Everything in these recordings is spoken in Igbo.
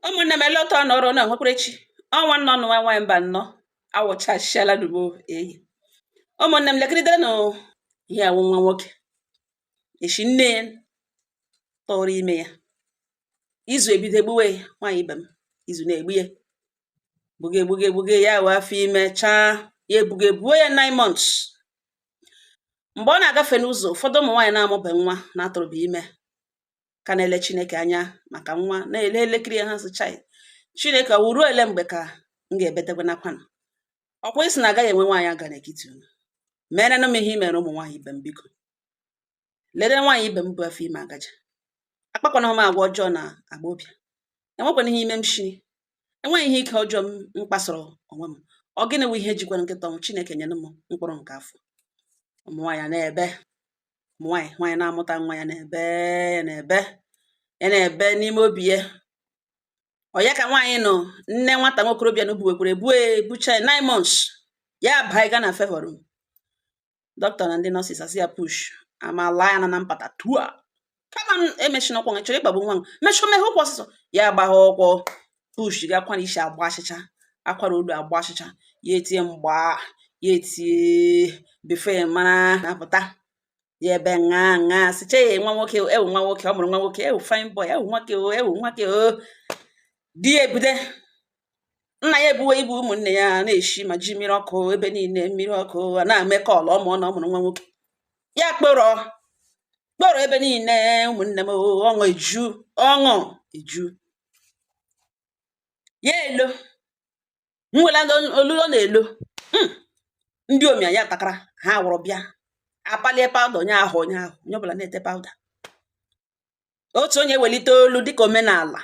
ụmụnne m ele otu ọ nọrọ na nwekwara echi ọnwa nnọ nụ nwa nwaanyị mba nnọ awụchasịala dubo eyi ụmụnne m lekiridere nụ ihe a wụ nwa nwoke eshi nne ya tụrụ ime ya izu ebido egbuwe ya nwaanyị ibe m izu na-egbu ya gbuge gbuge gbuge ya wee afọ ime chaa ya ebuga ebuo ya 9 months mgbe ọ na-agafe n'ụzọ ụfọdụ ụmụ nwaanyị na-amụbe nwa na-atụrụbe ime ka na-ele chineke anya maka nwa na-ele elekiri ha sị chai chineke ọ wụ ruo ele mgbe ka m ga-ebetekwa nakwanụ ọkwa ị sị na agaghị enwe nwaanyị aga n'etiti unu merenụ m ihe i mere ụmụ nwaanyị ibe m biko lere nwaanyị ibe m bu afọ ime agaja akpakwana m agwa ọjọọ na agbọbịa enwekwana ihe ime m shiri enweghị ihe ike ọjọọ m m kpasoro onwe m ọ gịnị wụ ihe jikwara nkịta ọnwụ chineke nyere m mkpụrụ nke afọ ụmụ nwaanyị a na-ebe ụmụ nwaanyị nwaanyị na-amụta nwa ya na-ebe ya na-ebe ya na-ebe n'ime obi ya ọ ya ka nwaanyị nụ nne nwata nwokorobịa nụ buwekwere bue bucha nine months ya baa ga na favour room dọkịta na ndị nurses asị ya push amala ya na na mpata tua come on emechina ụkwụ ị chọrọ ịkpagbu nwa m mechọ meghe ụkwụ ọsịsọ ya agbagha ụkwụ push gị akwara isi agbachịcha akwara olu agbachịcha ya etie mgba ya etie before ị mara nwa apụta ya ebe ṅa ṅa siche ya nwa nwoke ewu nwa nwoke ọ mụrụ nwa nwoke ewu fine boy ewu nwoke o ewu nwoke o di ya ebude nna ya ebuwe ibu ụmụnne ya na-eshi ma ji mmiri ọkụ ebe niile mmiri ọkụ a na-eme call ọ mụọna ọ mụrụ nwa nwoke ya kpọrọ kpọrọ ebe niile ụmụnne m ọṅụ eju ọṅụ eju ya elo m wela olu ọ na-elo hmm. ndị omi anyị atakara ha wụrụ bịa apalie pawụda onye ahụ onye ahụ onye ọbụla na-ete pawụda otu onye welite olu dịka omenala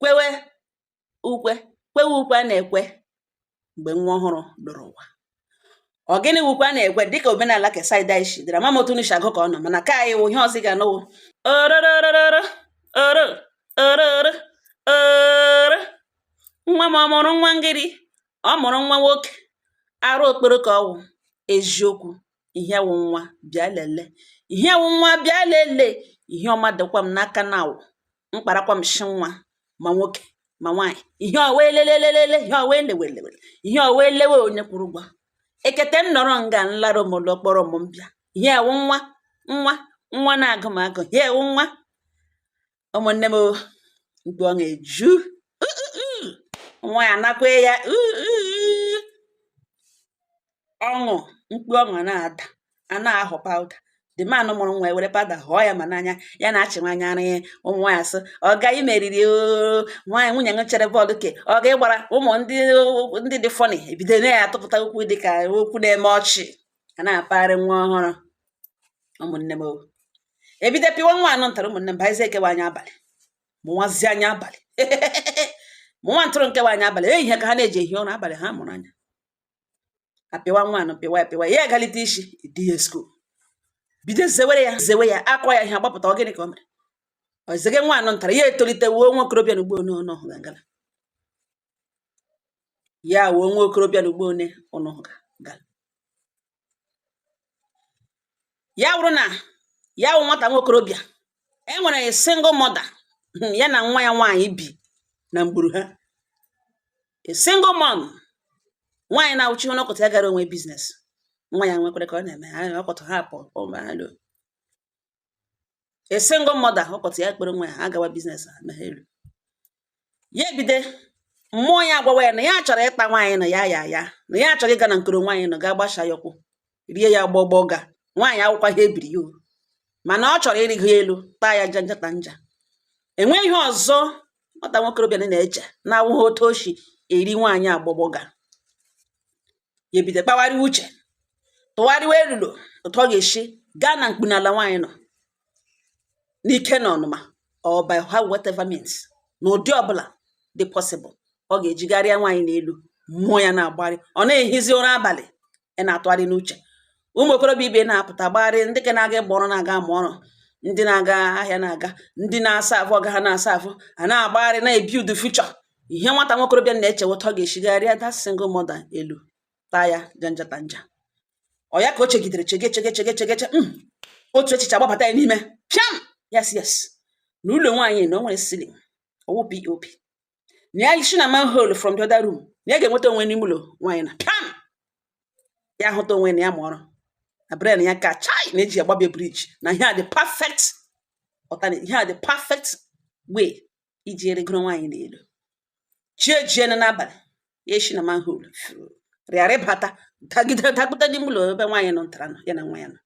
kwewe ukwe kwewe ukwe a na-ekwe mgbe nwa ọhụrụ loro ụwa ọ gịnị wụ ukwe a na-ekwe dịka omenala ke side a shi dịra ama m otu unu shi agụ ka unu mana ka anyị wụ ihe ọzọ ị ga-anụ wụ orororororo oro oro oro oro nwa m ọ mụrụ nwa ngịrị ọ mụrụ nwa nwoke arụ okporo ka ọ wụ eziokwu ihe wụ nwa bịa lele ihe wụ nwa bịa lele ihe ọma dịkwa m n'aka na awụ mkparakwa m shi nwa ma nwoke ma nwaanyị ihe ọwa elelelelele ihe ọwa elewelewele ihe ọwa elewe onye kwuru ụgwọ ekete m nọrọ nga nlara omolo kpọrọ m mbịa ihe wụ nwa nwa nwa na-agụ m agụụ ihe wụ nwa ụmụnne m mkpu ọṅụ eju nwaanyị a na-ekwe ya ọṅụ mkpu ọṅụ na-ada a na-ahụ pawuda the man mụrụ nwa were pawuda hụọ ya ma n'anya ya na-achị nwaanyị ara ya ụmụ nwaanyị asị ọ gaghị meriri nwaanyị nwunye m chere bọọlụ ke ọ ga ịgbara ụmụ ndị ndị dị fọnị ebido na ya atụpụta okwu dị ka okwu na-eme ọchị a na-apagharị nwa ọhụrụ ụmụnne m ebido pịwa nwa anụ ntara ụmụnne m bịazi kewa anya abalị mụwazi anya abalị mụwa ntụrụ nkewa anya abalị ehihie ka ha na-eji ehi ụra abalị ha mụrụ anya apịwa nwa anụ pịwa apịwa ya agalite isi di ya skuul bido zewere ya zewe ya akọ ya ihe agbapụta ọ gịnị ka o mere ọ zege nwa anụ ntara ya etolite wuo nwa okorobịa na ugbo one ọnụ ọhụ gangala ya wuo nwa okorobịa na ugbo one ọnụ ọhụ gangala ya wụrụ na ya wụ nwata nwa okorobịa e nwere a single mother hmm, ya na nwa ya nwaanyị bi na mgburu ha a single mom nwaanyị na-awụ chi hoo n'ụtụtụ ya gara onwe biznes nwa ya nwekwere ka ọ na-eme ha ụtụtụ ha pụ a single mother ụtụtụ ya kpere nwa ya ha gawa biznes ha meghere ya ebido mmụọ ya agwawa ya na ya chọrọ ịta nwaanyị na ya ya ya na ya chọrọ ịga na mkpuru nwaanyị na gaa gbasha ya ụkwụ rie ya agbọgbọ ga nwaanyị awụkwaha ebiri ya o. mana ọ chọrọ ịrịgo ya elu taa ya janja ta nja enweghị ihe ọzọ nwata nwokorobịa na na-eche na-awụghị otu o si eri nwaanyị agbọgbọ ga ya ebido kpagharịwa uche tụgharịwa elulo otu ọ ga-esi gaa na mkpunala nwaanyị nọ n'ike n'ọnụma or by whatever means n'ụdị ọbụla dị possible ọ ga-eji gaa rịa nwaanyị n'elu mmụọ ya na-agbagharị ọ na-ehizi ụra abalị ya na-atụgharị n'uche ụmụ okorobịa ibe na-apụta gbagharị ndị ke na-aga ịgba ọrụ na-aga amụ ọrụ ndị na-aga ahịa na-aga ndị na-aserve ọga ha na-aserve a na-agbagharị na-ebuild future ihe nwata nwa okorobịa na-eche wụ otu ọ ga-esi gaa rịa that single mother elu taa ya janjata nja ọ ya ka o chegidere chege chege chege chege che hmm, otu echiche agbabata ya n'ime piam yes yes na ụlọ nwaanyị na o nwere ceiling ọ wụ pop na ya si na manhole from the other room na ya ga-enweta onwe n'ime ụlọ nwaanyị na piam ya hụta onwe na ya ma ọrụ na brain ya ka China ji agbabie briji na ihe a the perfect alternate ihe a the perfect way iji rịgoro nwaanyị n'elu chi ejiene n'abalị ya esi na manhole rịara rịbata dagide dapụta n'ime ụlọ ebe nwaanyị nọ ntara nọ ya na nwa ya nọ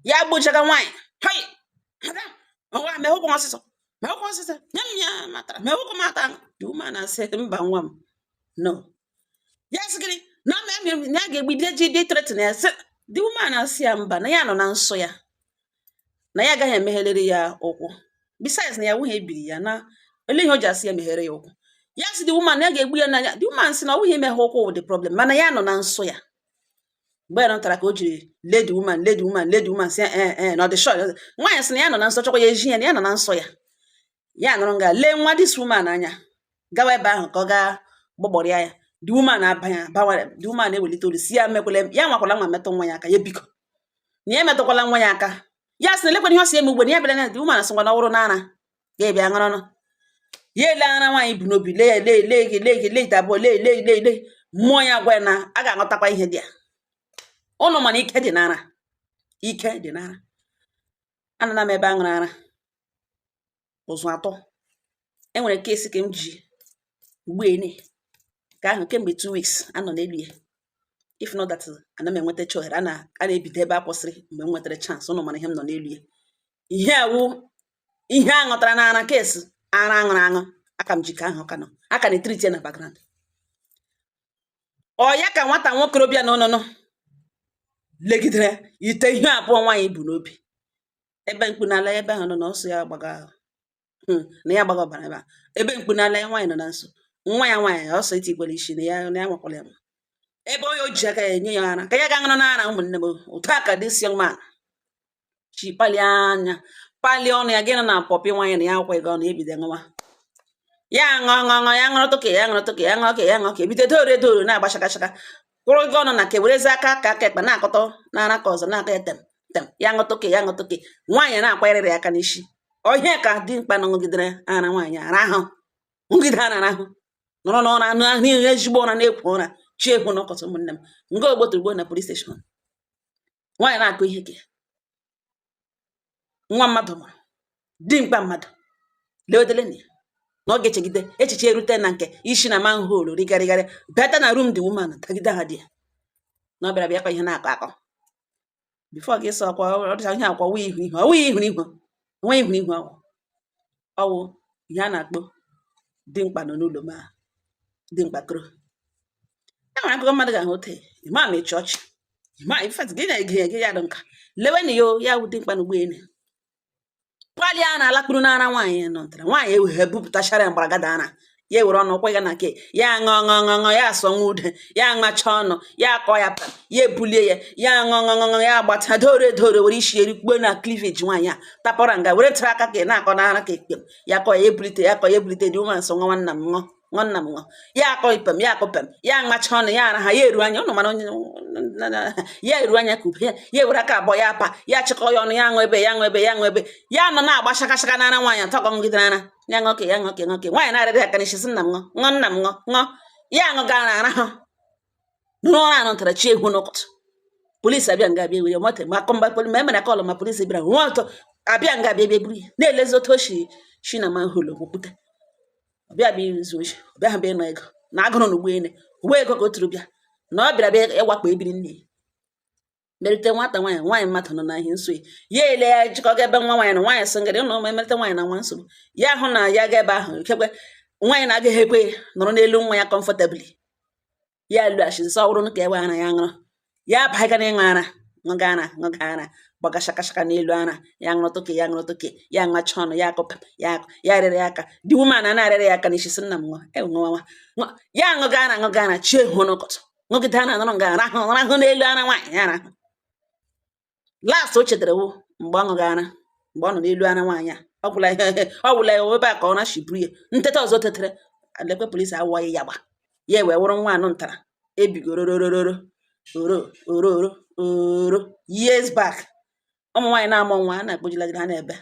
ya gbochaga nwaanyị hoi madam ngwa mehe ụkwụ ọsịsọ mehe ụkwụ ọsịsọ nye m ya m atara mehe ụkwụ m ata the woman asị mba nwa m no ya sị gịnị na ọ na ya ga-egbide jide threaten ya sị the woman asị ya mba na ya nọ na nsọ ya na ya agaghị emeghelere ya ụkwụ besides na ya awụghị ebiri ya na ele ihe o ji asị ya meghere ya ụkwụ ya sị the woman ya ga-egbu ya n'anya the woman sị na ọ wụghị imeghe ụkwụ wụ the problem mana ya nọ na nsọ ya mgbe ya nọtara ka o jiri lee the woman lee the woman lee the woman sị ee eh, ee eh, eh, na ọ dị shọ nwaanyị sị na ya nọ na nsọ chọkwa ya eji ya na ya nọ na nsọ ya ya nọrọ nga lee nwa dis woman anya gawa ebe ahụ ka ọ gaa gbọgbọrịa ya the woman abanye abawara the woman ewelite olu sị ya mekwala ya nwakwala anwa metụ nwa ya aka ya biko na ya emetụkwala nwa ya aka ya sị na elekwana ihe ọ si eme ugbo na ya bịara na the woman sị ngwa na ọ wụrụ n'ara ga-ebi ya ṅụrụnụ ya ele ara nwaanyị bu n'obi lee ya lee lee gị lee gị lee ite abụọ lee lee lee lee mmụọ ya gwa ya na a ga-aghọtakwa ihe dị ya ọnụ mana ike dị n'ara ike dị n'ara anana m ebe a ṅụrụ ara ụzụ atụọ e nwere case ka m ji ugbene ka ahụ kemgbe two weeks a nọ n'elu ya if not that ana m enweta ohere a na-ebido ebe a kwụsịrị mgbe m nwetara chance ụnụ mara ihe m nọ n'elu ya ihe a wụ ihe a ṅụtara n'ara case ara aṅụrụ aṅụ aka m ji ka ahụ ka nọ aka na-etriti ya na background ọ ya ka nwata nwokorobịa na ọnụnụ legidere ite ihe abụọ nwaanyị bu n'obi ebe mkpunala ebe ahụ nọ na nsọ ya gbaga ahụ hmm, na ya gbaga ọbara ebe a ebe mkpunala ya nwaanyị nọ na nsọ nwa ya nwaanyị ọsọ iti gwara isi na ya na ya nwakwara ya ma ebe onye o ji aka ya enye ya ara ka ya ga ṅụrụ n'ara ụmụnne m otu a ka dis young man si palie anya palie ọnụ ya gịnị na pọpị nwaanyị na ya akwa ego ọnụ ebido ṅụwa ya ṅụọ ṅụọ ṅụọ ya ṅụrụ tụka ya ṅụrụ tụka ya ṅụọ ka ya ṅụọ ka ebido dore dore na-agba shakashaka kwụrụ gị ọnụ na ka werezi aka aka aka ekpe na-akụtụ n'ara nke ọzọ na-aka etem tem ya ṅụtụke ya ṅụtụke nwaanyị na-akwanyere ya aka n'isi ọ ya ka dimkpa a ṅụgidere ara nwaanyị ara ahụ ṅụgide ara ahụ nọrọ n'ụra anụ ahụ ihe ezigbo ụra na-ekwo ụra chi eho n'ụtụtụ ụmụnne m nga ogbotogbo na police station nwaanyị na-akọ ihe ka nwa mmadụ mụrụ dimkpa mmadụ leodele na ya na ọ ga-echegide echiche erute na nke isi na manhol righarịgharị bata na room the woman tagide ha di ya na ọ bịara bịa kwa ihe na-akọ akọ before gị sọ kwa ọ dịcha ihe akwa wee ihu ihu ọwụ ihu ihu onwe ihu ihu ọwụ ọwụ ihe a na-akpọ dimkpa nọ n'ụlọ ma dimkpa kọrọ e nwere akụkọ mmadụ ga-akọ o tee ịma ma ịchị ọchị ịma in fact gị na-ege ya gị ya dị nka lewenụ ya o, ya wụ dimkpa na ụgbọelu pali a na-alakpuru n'ara nwaanyị nọ ntara nwaanyị emeghe bupụtachara ya mgbaragada ara ya ewere ọnụ kwa ya na nke ya aṅụọ ṅụọ ṅụọ ṅụọ ya asụọ nwa ude ya aṅacha ọnụ ya akọ ya pa ya ebulie ya ya aṅụọ ṅụọ ṅụọ ya agbata dore dore were isi erikpuo na cleavage nwaanyị a tapọra nga were tara aka ka ị na-akọ n'ara ka ekpem ya kọ ya ebulite ya kọ ya ebulite the woman sị nwa nna m ṅụọ nwa nna m ṅụọ ya akọ ipem ya akọ pem ya aṅacha ọnụ ya ara ha ya eru anya ụnụ mara onye ya eru anya ka ube ya ya ewere aka abụọ ya apa ya chịkọ ya ọnụ ya aṅụ ebe ya aṅụ ebe ya aṅụ ebe ya nọ na-agba shakashaka n'ara nwaanyị atọ gọmgide n'ara ya ṅụọ ka ya ṅụọ ka ya ṅụọ ka nwaanyị na-arịrị aka n'isi sị nna m ṅụọ ṅụọ nna m ṅụọ ṅụọ ya ṅụga ara rahụ nụrụ ụra anụ tara chi eho n'ụtụtụ polisi abịa nga abịa were nwata ma akọmba poli ma emere kọlụ ma polisi bịara nwa ọtọ abịa nga abịa bịa buru ya na-elezi otu o si si na manhole okwupụta ọ bịa bịa izu oshi ọbịa ha bịa ịnọ ego na agụrụ na ụgbọelu ụgbọ ego ka o turu bịa na ọ bịara bịa ịwakpo ebiri nne ya merite nwata nwaanyị nwaanyị mmadụ nọ na ihe nsogbu ya ele ya jikọ ga ebe nwa nwaanyị na nwaanyị single woman emerite nwaanyị na nwa nsogbu ya hụ na ya ga ebe ahụ ikekwe nwaanyị na-agaghị ekwe nọrọ n'elu nwa ya comfortably ya lụghachi nsọ ọhụrụ ka ewe ara ya ṅụrụ ya abaga na ịṅụ ara ṅụga ara ṅụga ara gbaga shakashaka n'elu ara ya ṅụrụ toke ya ṅụrụ toke ya ṅacha ọnụ ya akụ pa ya akụ ya rịrị ya aka the woman na-arịrị ya aka n'isi sị nna m ṅụọ ṅụọ ṅụọ ya ṅụga ara ṅụga ara chi eho n'ụtụtụ ṅụgide ara nọrọ nga rahụ rahụ n'elu ara nwaanyị ya arahụ last o chetara wo mgbe ọ ṅụga ara mgbe ọ nọ n'elu ara nwaanyị a ọ gwụla ihe ọ gwụla ya ebe a ka ọ na-ashiburu ya nteta ọzọ tetere lekwe polisi awụwaghị ya gba ya wee wụrụ nwa anụ ntara ebigororororo oro oro oro oro years back ụmụ nwaanyị na-amụ nwa a na-akpojilagide ha n'ebe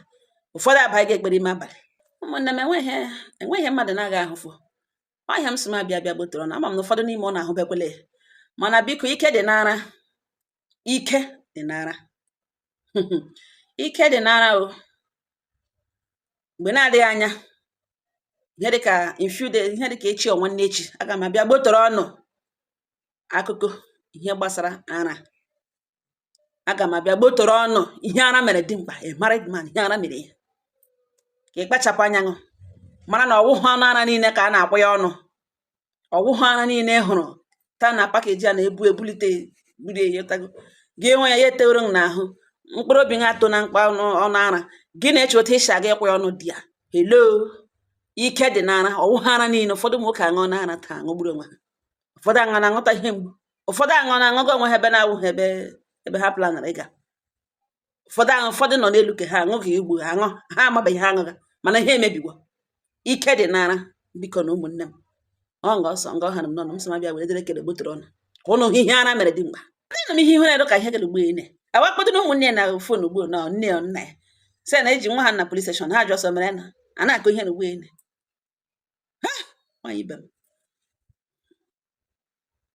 ụfọdụ abaga ekpere ime abalị ụmụnne m enweghị enweghị mmadụ na-aga ahụfụ ọ ihe a m sị m abịa bịa gbotoro ụnụ ama m na ụfọdụ n'ime ụnụ ahụbekwele ya mana biko ike dị n'ara ike dị n'ara ike dị n'ara o mgbe na-adịghị anya ihe dịka in few days ihe dịka echi or nwanne echi aga m abịa gbotoro ụnụ akụkọ ihe gbasara ara aga m abịa gbotoro ụnụ ihe ara mere dimkpa a married man ihe ara mere ya ka ị kpachapụ anya ṅụ mara na ọwụhụ ọnụ ara niile ka a na-akpụ ya ọnụ ọwụhụ ara niile ị hụrụ taa na package a na-ebu ebulite buru eyetago gị enwe ya ya etewere m n'ahụ mkpụrụ obi gị atọ na mkpa ọnụ ara gị na-eche otu esi aga ịkwụ ya ọnụ di ya hello ike dị n'ara ọwụhụ ara niile ụfọdụ ụmụ nwoke aṅụọ n'ara taa aṅụgburu onwe ha ụfọdụ aṅụ na-aṅụta ihe mgbu ụfọdụ aṅụ na aṅụgo onwe ha ebe na-awụghị ebe ha planara ịga ụfọdụ aṅụ ụfọdụ nọ n'elu ka ha aṅụghị igbu ha aṅụ ha amabeghị ha aṅụga mana ihe emebiwo ike dị n'ara bikonụ ụmụnne m ọ nga ọsọ nga ọha na m n'ọnụ m sị m bịa were dere kele gbotụrụ ọnụ ka ụnụ ihe ara mere dimkpa ndị nọ m ihe ihere ka ihe gere ugbu ine awakpọdo na ụmụnne na fon ugbu na nne ya nna ya sị na e ji nwa ha na police station ha ji ọsọ mere na a na-akụ ihe na ugbu ine ha nwaanyị ibe m